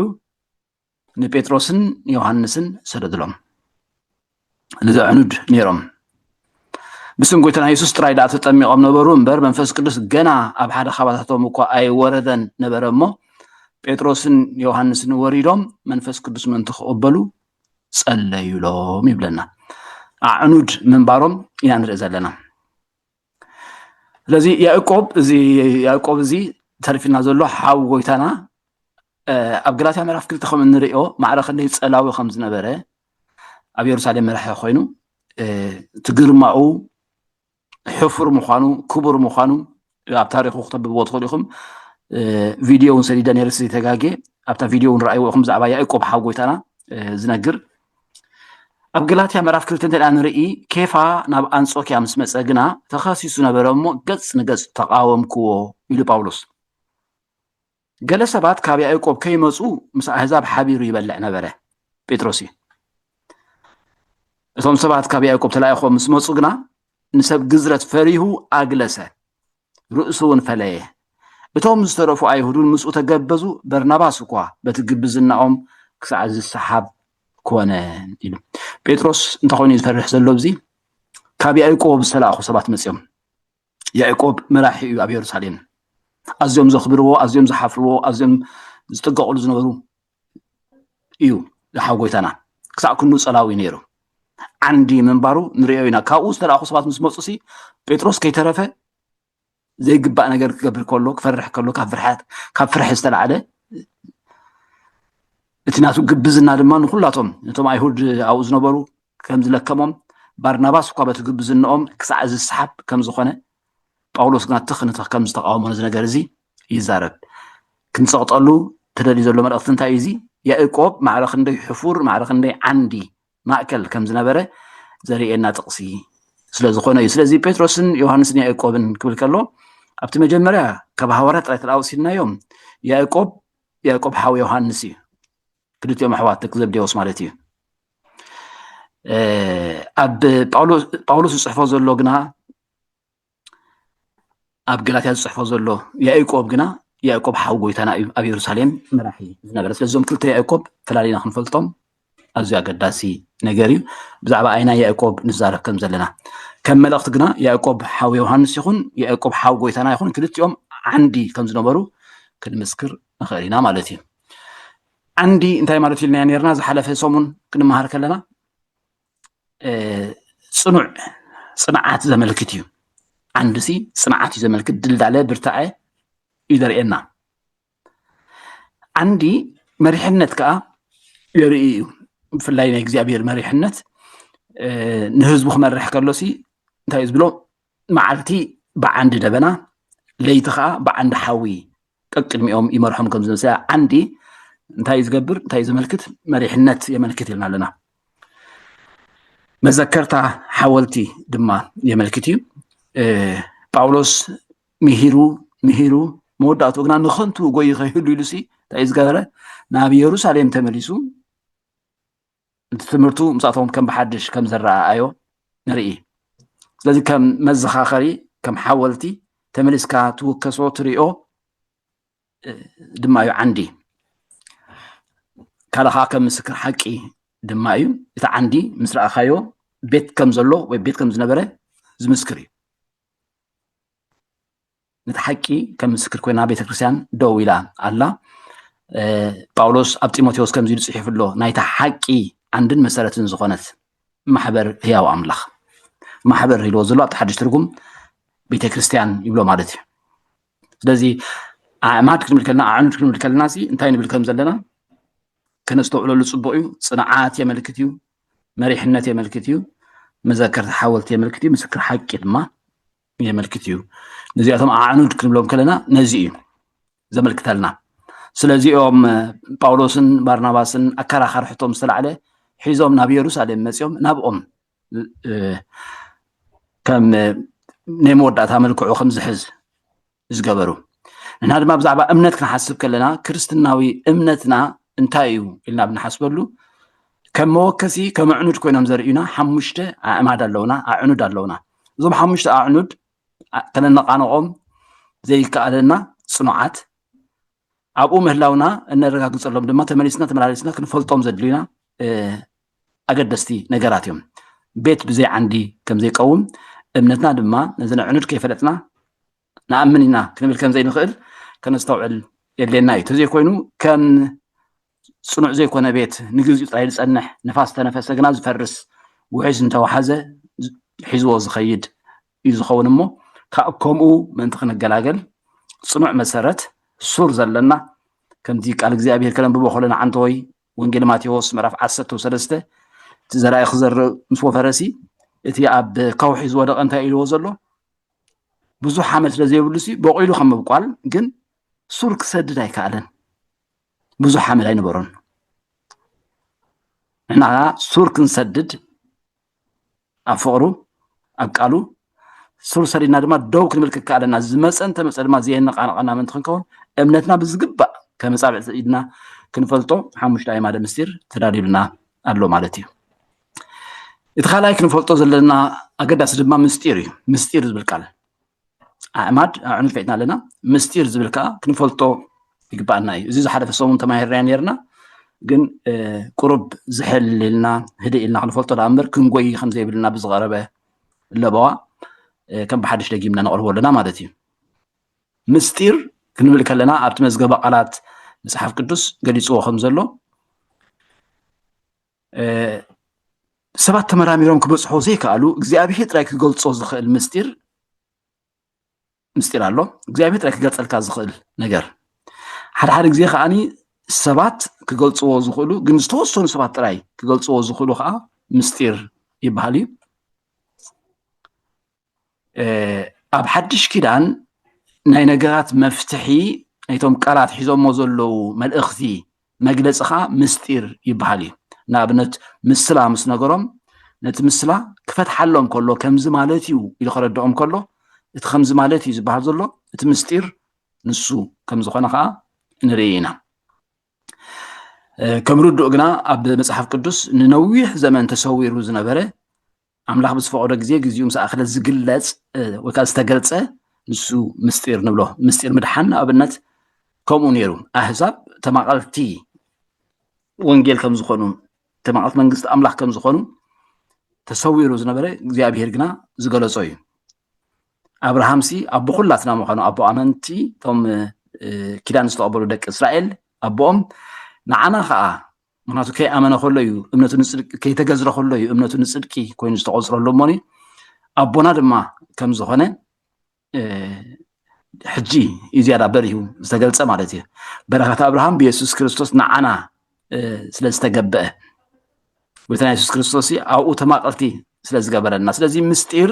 ንጴጥሮስን ዮሃንስን ሰደድሎም ንዘዕኑድ ነይሮም ብስም ጎይታና የሱስ ጥራይ ደኣ ተጠሚቖም ነበሩ እምበር መንፈስ ቅዱስ ገና ኣብ ሓደ ካባታቶም እኳ ኣይወረደን ነበረ እሞ ጴጥሮስን ዮሃንስን ወሪዶም መንፈስ ቅዱስ ምእንቲ ክቕበሉ ጸለዩሎም ይብለና ኣዕኑድ ምንባሮም ኢና ንርኢ ዘለና ስለዚ ያእቆብ እዚ ያእቆብ እዚ ተሪፍና ዘሎ ሓው ጎይታና ኣብ ገላትያ ምዕራፍ ክልተ ከም እንሪኦ ማዕረ ክንደይ ፀላዊ ከም ዝነበረ ኣብ የሩሳሌም መራሒ ኮይኑ እቲ ግርማኡ ሕፉር ምዃኑ ክቡር ምዃኑ ኣብ ታሪኹ ክተብብዎ ትኽእሉ ኢኹም ቪድዮ እውን ሰዲደ ነርሲ ተጋጌ ኣብታ ቪድዮ እውን ረኣይዎ ኢኹም ብዛዕባ ያእቆብ ሓው ጎይታና ዝነግር ኣብ ገላትያ ምዕራፍ ክልተ እንተ ንርኢ ኬፋ ናብ ኣንጾኪያ ምስ መጸ ግና ተኸሲሱ ነበረ እሞ ገጽ ንገጽ ተቓወምክዎ ኢሉ ጳውሎስ ገለ ሰባት ካብ ያዕቆብ ከይመጹ ምስ ኣህዛብ ሓቢሩ ይበልዕ ነበረ ጴጥሮስ እዩ እቶም ሰባት ካብ ያዕቆብ ተላኢኾም ምስ መጹ ግና ንሰብ ግዝረት ፈሪሁ ኣግለሰ ርእሱውን ፈለየ። እቶም ዝተረፉ ኣይሁድውን ምስኡ ተገበዙ፣ በርናባስ እኳ በቲ ግብዝናኦም ክሳዕ ዝሰሓብ ኮነ ኢሉ። ጴጥሮስ እንታይ ኮይኑ ዝፈርሕ ዘሎ ኣብዚ ካብ ያዕቆብ ዝተላእኹ ሰባት መፅኦም ያዕቆብ መራሒ እዩ ኣብ የሩሳሌም ኣዝዮም ዘኽብርዎ ኣዝዮም ዝሓፍርዎ ኣዝዮም ዝጥቀቕሉ ዝነበሩ እዩ ሓው ጎይታና ክሳዕ ክንዱ ጸላዊ ነይሩ ዓንዲ ምንባሩ ንሪኦ ኢና ካብኡ ዝተላእኹ ሰባት ምስ መፁ ሲ ጴጥሮስ ከይተረፈ ዘይግባእ ነገር ክገብር ከሎ ክፈርሕ ከሎ ካብ ፍርሓት ካብ ፍርሒ ዝተላዕለ እቲ ናቱ ግብዝና ድማ ንኩላቶም ነቶም ኣይሁድ ኣብኡ ዝነበሩ ከም ዝለከሞም ባርናባስ እኳ በቲ ግብዝንኦም ክሳዕ ዝሰሓብ ከም ዝኾነ ጳውሎስ ግና ትኽ ንትኽ ከም ዝተቃወሞ ነዚ ነገር እዚ ይዛረብ ክንጸቕጠሉ ተደልዩ ዘሎ መልእኽቲ እንታይ እዩ እዚ ያእቆብ ማዕረ ክንደይ ሕፉር ማዕረ ክንደይ ዓንዲ ማእከል ከም ዝነበረ ዘርእየና ጥቕሲ ስለ ዝኾነ እዩ ስለዚ ጴጥሮስን ዮሃንስን ያእቆብን ክብል ከሎ ኣብቲ መጀመርያ ካብ ሃዋርያ ጥራይ ተደኣ ወሲድናዮም ያእቆብ ያእቆብ ሓው ዮሃንስ እዩ ክልቲኦም ኣሕዋት ደቂ ዘብዴዎስ ማለት እዩ ኣብ ጳውሎስ ዝፅሕፎ ዘሎ ግና ኣብ ገላትያ ዝፅሕፎ ዘሎ ያእቆብ ግና ያእቆብ ሓው ጎይታና እዩ ኣብ የሩሳሌም መራሒ ዝነበረ ስለዞም ክልተ ያእቆብ ፈላሊና ክንፈልጦም ኣዝዩ ኣገዳሲ ነገር እዩ ብዛዕባ ኣይና ያእቆብ ንዛረብ ከም ዘለና ከም መልእኽቲ ግና ያእቆብ ሓው ዮሃንስ ይኹን ያእቆብ ሓው ጎይታና ይኹን ክልቲኦም ዓንዲ ከም ዝነበሩ ክንምስክር ንኽእል ኢና ማለት እዩ ዓንዲ እንታይ ማለት ኢልና ነርና ዝሓለፈ ሰሙን ክንመሃር ከለና ፅኑዕ ፅንዓት ዘመልክት እዩ ዓንዱ ሲ ፅንዓት እዩ ዘመልክት ድልዳለ ብርታዐ እዩ ዘርእየና ዓንዲ መሪሕነት ከዓ የርኢ እዩ ብፍላይ ናይ እግዚኣብሔር መሪሕነት ንህዝቡ ክመርሕ ከሎ ሲ እንታይ እዩ ዝብሎ መዓልቲ ብዓንዲ ደበና ለይቲ ከዓ ብዓንዲ ሓዊ ቀቅድሚኦም ይመርሖም ከም ዝመሰ ዓንዲ እንታይ እዩ ዝገብር እንታይ እዩ ዘመልክት መሪሕነት የመልክት ኢልና ኣለና መዘከርታ ሓወልቲ ድማ የመልክት እዩ ጳውሎስ ምሂሩ ምሂሩ መወዳእትኡ ግና ንኸንቱ ጎይ ከይህሉ ኢሉሲ እንታይ እዩ ዝገበረ ናብ የሩሳሌም ተመሊሱ እቲ ትምህርቱ ምስኣቶም ከም ብሓድሽ ከም ዝረኣኣዮ ንርኢ ስለዚ ከም መዘኻኸሪ ከም ሓወልቲ ተመሊስካ ትውከሶ ትሪኦ ድማ እዩ ዓንዲ ካልኻ ከም ምስክር ሓቂ ድማ እዩ እቲ ዓንዲ ምስ ረኣኻዮ ቤት ከም ዘሎ ወይ ቤት ከም ዝነበረ ዝምስክር እዩ ነቲ ሓቂ ከም ምስክር ኮይና ቤተ ክርስትያን ደው ኢላ ኣላ ጳውሎስ ኣብ ጢሞቴዎስ ከምዚ ኢሉ ጽሒፉ ኣሎ ናይታ ሓቂ ዓንድን መሰረትን ዝኾነት ማሕበር ህያው ኣምላኽ ማሕበር ኢልዎ ዘሎ ኣብቲ ሓድሽ ትርጉም ቤተ ክርስትያን ይብሎ ማለት እዩ ስለዚ ኣዕማድ ክንብል ከለና ኣዕኑድ ክንብል ከለና ሲ እንታይ ንብል ከም ዘለና ከነስተውዕለሉ ፅቡቅ እዩ ፅንዓት የመልክት እዩ መሪሕነት የመልክት እዩ መዘከርቲ ሓወልቲ የመልክት እዩ ምስክር ሓቂ ድማ የመልክት እዩ ነዚኣቶም ኣዕኑድ ክንብሎም ከለና ነዚ እዩ ዘመልክተልና ስለዚኦም ጳውሎስን ባርናባስን ኣከራኻር ሕቶም ዝተላዕለ ሒዞም ናብ የሩሳሌም መፅኦም ናብኦም ከም ናይ መወዳእታ መልክዑ ከም ዝሕዝ ዝገበሩ ንሕና ድማ ብዛዕባ እምነት ክንሓስብ ከለና ክርስትናዊ እምነትና እንታይ እዩ ኢልና ብንሓስበሉ ከም መወከሲ ከም ኣዕኑድ ኮይኖም ዘርእዩና ሓሙሽተ ኣዕማድ ኣለውና ኣዕኑድ ኣለውና እዞም ሓሙሽተ ኣዕኑድ ከነነቃነቆም ዘይከኣለና ፅኑዓት ኣብኡ ምህላውና እነረጋግፀሎም ድማ ተመሊስና ተመላለስና ክንፈልጦም ዘድልዩና ኣገደስቲ ነገራት እዮም። ቤት ብዘይ ዓንዲ ከም ዘይቀውም እምነትና ድማ ነዚ ነዕኑድ ከይፈለጥና ንኣምን ኢና ክንብል ከም ዘይንኽእል ከነስተውዕል የድልየና እዩ። ተዘይኮይኑ ከም ፅኑዕ ዘይኮነ ቤት ንግዚኡ ጥራይ ዝፀንሕ ንፋስ ተነፈሰ ግና ዝፈርስ ውሕጅ እንተወሓዘ ሒዝዎ ዝኸይድ እዩ ዝኸውን እሞ ካብ ከምኡ ምእንቲ ክንገላገል ፅኑዕ መሰረት ሱር ዘለና ከምዚ ቃል እግዚኣብሄር ከነንብቦ ከለና ዓንተወይ ወንጌል ማቴዎስ ምዕራፍ ዓሰርተ ሰለስተ እቲ ዘራኢ ክዘርእ ምስ ወፈረሲ እቲ ኣብ ከውሒ ዝወደቐ እንታይ ኢልዎ ዘሎ ብዙሕ ሓመድ ስለ ዘይብሉ ሲ በቂሉ ከም ምብቋል ግን ሱር ክሰድድ ኣይከኣለን ብዙሕ ሓመድ ኣይነበሮን ንሕና ሱር ክንሰድድ ኣብ ፍቕሩ ኣብ ቃሉ ሱር ሰዲድና ድማ ደው ክንብል ክከኣለና ዝመፀ እንተመፀ ድማ ዘየነቃነቐና ምእንቲ ክንከውን እምነትና ብዝግባእ ከም ፃብዕቲ ኢድና ክንፈልጦ ሓሙሽተ ኣይማደ ምስጢር ተዳልዩልና ኣሎ ማለት እዩ እቲ ካልኣይ ክንፈልጦ ዘለና ኣገዳሲ ድማ ምስጢር እዩ ምስጢር ዝብል ቃል ኣዕማድ ኣዕኑ ፈጥና ኣለና ምስጢር ዝብል ከዓ ክንፈልጦ ይግባኣና እዩ እዚ ዝሓለፈ ሰሙን ተማሂርና ነርና ግን ቁሩብ ዝሕል ኢልና ህድእ ኢልና ክንፈልጦ ዳኣ እምበር ክንጎይ ከም ዘይብልና ብዝቐረበ ለበዋ ከም ብሓድሽ ደጊምና ነቕርቦ ኣለና ማለት እዩ ምስጢር ክንብል ከለና ኣብቲ መዝገበ ቃላት መፅሓፍ ቅዱስ ገሊፅዎ ከም ዘሎ ሰባት ተመራሚሮም ክበፅሖ ዘይከኣሉ እግዚኣብሄር ጥራይ ክገልፆ ዝኽእል ምስጢር ምስጢር ኣሎ እግዚኣብሄር ጥራይ ክገልፀልካ ዝኽእል ነገር ሓደ ሓደ ግዜ ከዓኒ ሰባት ክገልፅዎ ዝኽእሉ ግን ዝተወሰኑ ሰባት ጥራይ ክገልፅዎ ዝኽእሉ ከዓ ምስጢር ይበሃል እዩ ኣብ ሓድሽ ኪዳን ናይ ነገራት መፍትሒ ናይቶም ቃላት ሒዞሞ ዘለዉ መልእኽቲ መግለፂ ከዓ ምስጢር ይበሃል እዩ ንኣብነት ምስላ ምስ ነገሮም ነቲ ምስላ ክፈትሓሎም ከሎ ከምዚ ማለት እዩ ኢሉ ከረድኦም ከሎ እቲ ከምዚ ማለት እዩ ዝበሃል ዘሎ እቲ ምስጢር ንሱ ከም ዝኾነ ከዓ ንርኢ ኢና ከም ርዱእ ግና ኣብ መፅሓፍ ቅዱስ ንነዊሕ ዘመን ተሰዊሩ ዝነበረ ኣምላኽ ብዝፈቐዶ ግዜ ግዜኡ ምስ ኣኸለ ዝግለጽ ወይ ከዓ ዝተገልጸ ንሱ ምስጢር ንብሎ ምስጢር ምድሓን ንኣብነት ከምኡ ነይሩ ኣህዛብ ተማቐልቲ ወንጌል ከም ዝኾኑ ተማቐልቲ መንግስቲ ኣምላኽ ከም ዝኾኑ ተሰዊሩ ዝነበረ እግዚኣብሄር ግና ዝገለጾ እዩ ኣብርሃም ሲ ኣቦ ኩላትና ምዃኑ ኣቦ ኣመንቲ እቶም ኪዳን ዝተቐበሉ ደቂ እስራኤል ኣቦኦም ንዓና ከዓ ምክንያቱ ከይኣመነ ከሎ እዩ እምነቱ ንፅድቂ ከይተገዝረ ከሎ እዩ እምነቱ ንፅድቂ ኮይኑ ዝተቆፅረሉ እሞኒ ኣቦና ድማ ከም ዝኾነ ሕጂ እዩ ዝያዳ በሪሁ ዝተገልፀ ማለት እዩ በረከት ኣብርሃም ብየሱስ ክርስቶስ ንዓና ስለ ዝተገበአ ጎይታና የሱስ ክርስቶስ ኣብኡ ተማቀርቲ ስለ ዝገበረልና ስለዚ ምስጢር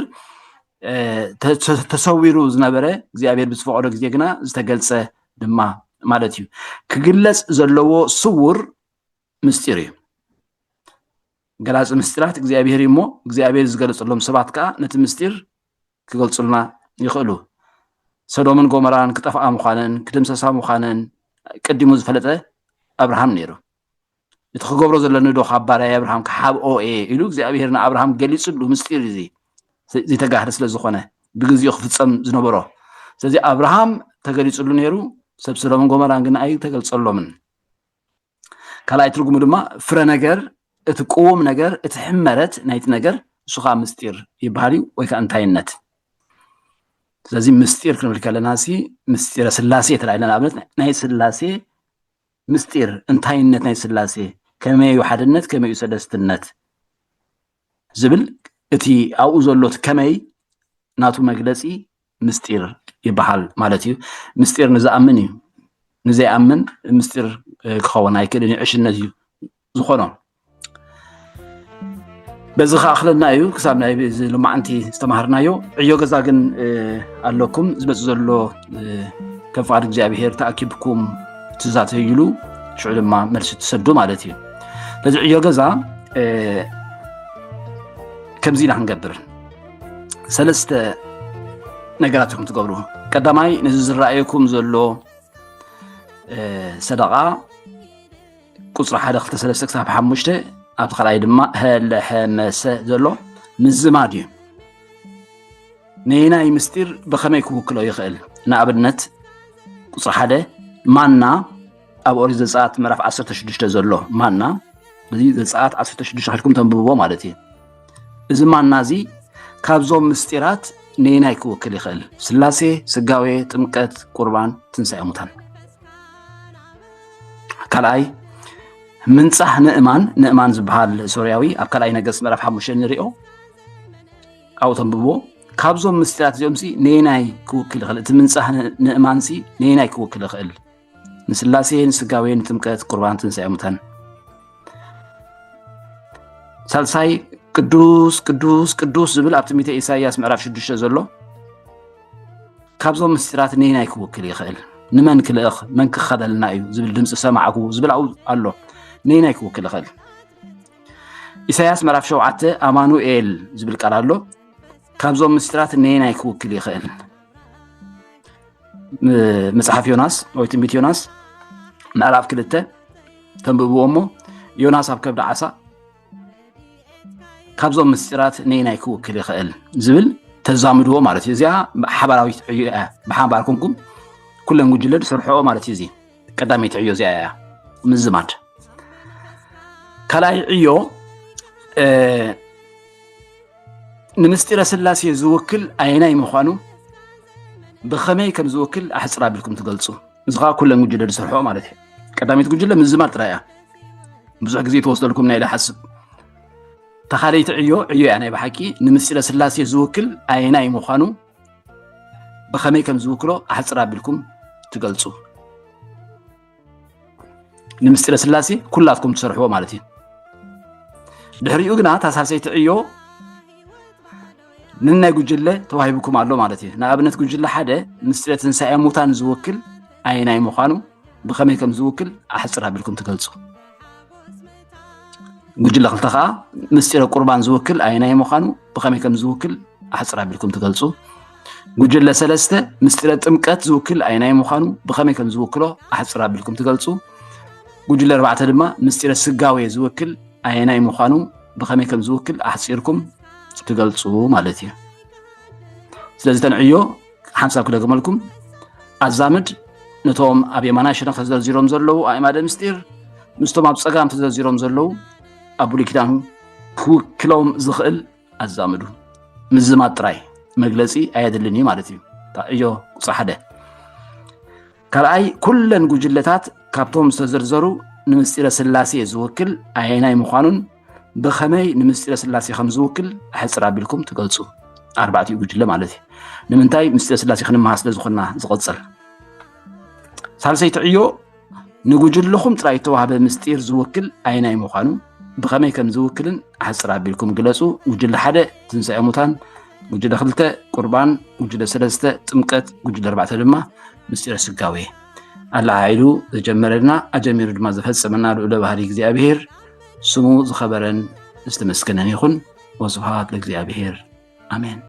ተሰዊሩ ዝነበረ እግዚኣብሔር ብዝፈቀዶ ግዜ ግና ዝተገልፀ ድማ ማለት እዩ ክግለፅ ዘለዎ ስውር ምስጢር እዩ ገላፂ ምስጢራት እግዚኣብሔር እዩ እሞ እግዚኣብሔር ዝገለፅሎም ሰባት ከዓ ነቲ ምስጢር ክገልፁልና ይኽእሉ ሰዶምን ጎመራን ክጠፍኣ ምዃነን ክድምሰሳ ምዃነን ቀዲሙ ዝፈለጠ ኣብርሃም ነይሩ እቲ ክገብሮ ዘሎ ንዶ ካብ ባርያይ ኣብርሃም ክሓብኦ እየ ኢሉ እግዚኣብሄር ንኣብርሃም ገሊጽሉ ምስጢር እዚ ዘይተጋህደ ስለ ዝኾነ ብግዜኡ ክፍጸም ዝነበሮ ስለዚ ኣብርሃም ተገሊጽሉ ነይሩ ሰብ ሰዶምን ጎመራን ግን ኣይተገልጸሎምን ካልኣይ ትርጉሙ ድማ ፍረ ነገር እቲ ቅውም ነገር እቲ ሕመረት ናይቲ ነገር ንሱ ከዓ ምስጢር ይበሃል እዩ ወይ ከዓ እንታይነት ስለዚ ምስጢር ክንብል ከለና ሲ ምስጢረ ስላሴ ተላኢልና ንኣብነት ናይ ስላሴ ምስጢር እንታይነት ናይ ስላሴ ከመይ እዩ ሓድነት ከመይ እዩ ሰለስትነት ዝብል እቲ ኣብኡ ዘሎ ከመይ ናቱ መግለፂ ምስጢር ይበሃል ማለት እዩ ምስጢር ንዝኣምን እዩ ንዘይኣምን ምስጢር ክኸውን ኣይክእልን ዕሽነት እዩ ዝኾኖም በዚ ከኣክለና እዩ ክሳብ ናይ እዚ ሎማዓንቲ ዝተማሃርናዮ ዕዮ ገዛ ግን ኣለኩም ዝመፅ ዘሎ ከም ፍቃድ እግዚኣብሄር ተኣኪብኩም ትዛተይሉ ሽዑ ድማ መልሲ ትሰዱ ማለት እዩ ነዚ ዕዮ ገዛ ከምዚ ኢና ክንገብር ሰለስተ ነገራት ኢኹም ትገብሩ ቀዳማይ ነዚ ዝረኣየኩም ዘሎ ሰደቃ ቁፅሪ ሓደ ክልተ ሰለስተ ክሳብ ሓሙሽተ ኣብቲ ካልኣይ ድማ ሀለሐመሰ ዘሎ ምዝማድ እዩ ነየናይ ምስጢር ብኸመይ ክውክሎ ይኽእል ንኣብነት ቁፅሪ ሓደ ማና ኣብ ኦሪት ዘፀኣት ምዕራፍ 16 ዘሎ ማና እዚ ዘፀኣት 16 ከድኩም ተንብብዎ ማለት እዩ እዚ ማና እዚ ካብዞም ምስጢራት ነየናይ ክውክል ይኽእል ስላሴ ስጋዌ ጥምቀት ቁርባን ትንሳኤ ሙታን ካልኣይ ምንፃህ ንእማን ንእማን ዝበሃል ሶርያዊ ኣብ ካልኣይ ነገስ ምዕራፍ ሓሙሽተ ንሪኦ ካብኡ ተንብቦ ካብዞም ምስጢራት እዚኦም ሲ ነየናይ ክውክል ይኽእል እቲ ምንፃህ ንእማን ሲ ነየናይ ክውክል ይኽእል ንስላሴ ንስጋዌ ንጥምቀት ቁርባን ትንሳኤ ሙታን ሳልሳይ ቅዱስ ቅዱስ ቅዱስ ዝብል ኣብ ትንቢተ ኢሳይያስ ምዕራፍ ሽዱሽተ ዘሎ ካብዞም ምስጢራት ነየናይ ክውክል ይኽእል? ንመን ክልእኽ መን ክኸበልና እዩ ዝብል ድምፂ ሰማዕኩ ዝብል ኣብኡ ኣሎ ነየናይ ክውክል ይኽእል? ኢሳያስ ምዕራፍ ሸውዓተ ኣማኑኤል ዝብል ቃል ኣሎ ካብዞም ምስጢራት ነየናይ ክውክል ይኽእል? መፅሓፍ ዮናስ ወይ ትንቢት ዮናስ ምዕራፍ ክልተ ተንብብዎ እሞ ዮናስ ኣብ ከብዲ ዓሳ ካብዞም ምስጢራት ነየናይ ክውክል ይኽእል ዝብል ተዛምድዎ ማለት እዩ እዚኣ ሓባራዊት ዕዮ እያ ብሓባር ኮንኩም ኩለን ጉጅለ ዝሰርሐኦ ማለት እዩ እዚ ቀዳመይቲ ዕዮ እዚኣ እያ ምዝማድ ካልኣይ ዕዮ ንምስጢረ ስላሴ ዝውክል ኣየናይ ምዃኑ ብኸመይ ከም ዝውክል ኣሕፅር ኣቢልኩም ትገልፁ እዚ ከዓ ኩለን ጉጅለ ዝሰርሖ ማለት እዩ ቀዳሚት ጉጅለ ምዝማር ጥራይ እያ ብዙሕ ግዜ ተወስደልኩም ናይ ሓስብ ተኻለይቲ ዕዮ ዕዮ እያ ናይ ብሓቂ ንምስለ ስላሴ ዝውክል ኣየናይ ምዃኑ ብኸመይ ከም ዝውክሎ ኣሕፅር ኣቢልኩም ትገልፁ ንምስጢረ ስላሴ ኩላትኩም ትሰርሕዎ ማለት እዩ ድሕሪኡ ግና ታሳሰይቲ ዕዮ ንናይ ጉጅለ ተዋሂብኩም ኣሎ ማለት እዩ ንኣብነት ጉጅለ ሓደ ምስጢረ ትንሳኤ ሙታን ዝውክል ኣይናይ ምዃኑ ብኸመይ ከም ዝውክል ኣሕፅር ኣቢልኩም ትገልፁ ጉጅለ ክልተ ከዓ ምስጢረ ቁርባን ዝውክል ኣይናይ ምዃኑ ብኸመይ ከም ዝውክል ኣሕፅር ኣቢልኩም ትገልፁ ጉጅለ ሰለስተ ምስጢረ ጥምቀት ዝውክል ኣይናይ ምዃኑ ብኸመይ ከም ዝውክሎ ኣሕፅር ኣቢልኩም ትገልፁ ጉጅለ ኣርባዕተ ድማ ምስጢረ ስጋዌ ዝውክል ኣይናይ ምዃኑ ብኸመይ ከም ዝውክል ኣሕፂርኩም ትገልፁ ማለት እዩ። ስለዚ ተንዕዮ ሓንሳብ ክደግመልኩም ኣዛምድ ነቶም ኣብ የማናይ ሸነኽ ተዘርዚሮም ዘለዉ ኣእማደ ምስጢር ምስቶም ኣብ ፀጋም ተዘርዚሮም ዘለዉ ኣብ ብሉይ ኪዳን ክውክሎም ዝኽእል ኣዛምዱ ምዝማድ ጥራይ መግለፂ ኣየድልን እዩ ማለት እዩ ዕዮ ቁፅሪ ሓደ ካልኣይ ኩለን ጉጅለታት ካብቶም ዝተዘርዘሩ ንምስጢረ ስላሴ ዝውክል ኣየናይ ምዃኑን ብኸመይ ንምስጢረ ስላሴ ከም ዝውክል ሕፅር ኣቢልኩም ትገልፁ ኣርባዕቲኡ ጉጅለ ማለት እዩ ንምንታይ ምስጢረ ስላሴ ክንመሃር ስለ ዝኾና ዝቐፅል ሳልሰይቲ ዕዮ ንጉጅልኹም ጥራይ እተዋህበ ምስጢር ዝውክል ኣይናይ ምዃኑ ብኸመይ ከም ዝውክልን ኣሕፅር ኣቢልኩም ግለፁ ጉጅለ ሓደ ትንሳኤ ሙታን ጉጅለ ክልተ ቁርባን ጉጅለ ሰለስተ ጥምቀት ጉጅለ ኣርባዕተ ድማ ምስጢረ ስጋዌ ኣላዓዒሉ ዘጀመረልና ኣጀሚሩ ድማ ዘፈፀመና ልዑለ ባህሪ እግዚኣብሄር ስሙ ዝኸበረን ዝተመስገነን ይኹን። ወስብሃት ለእግዚኣብሔር ኣሜን።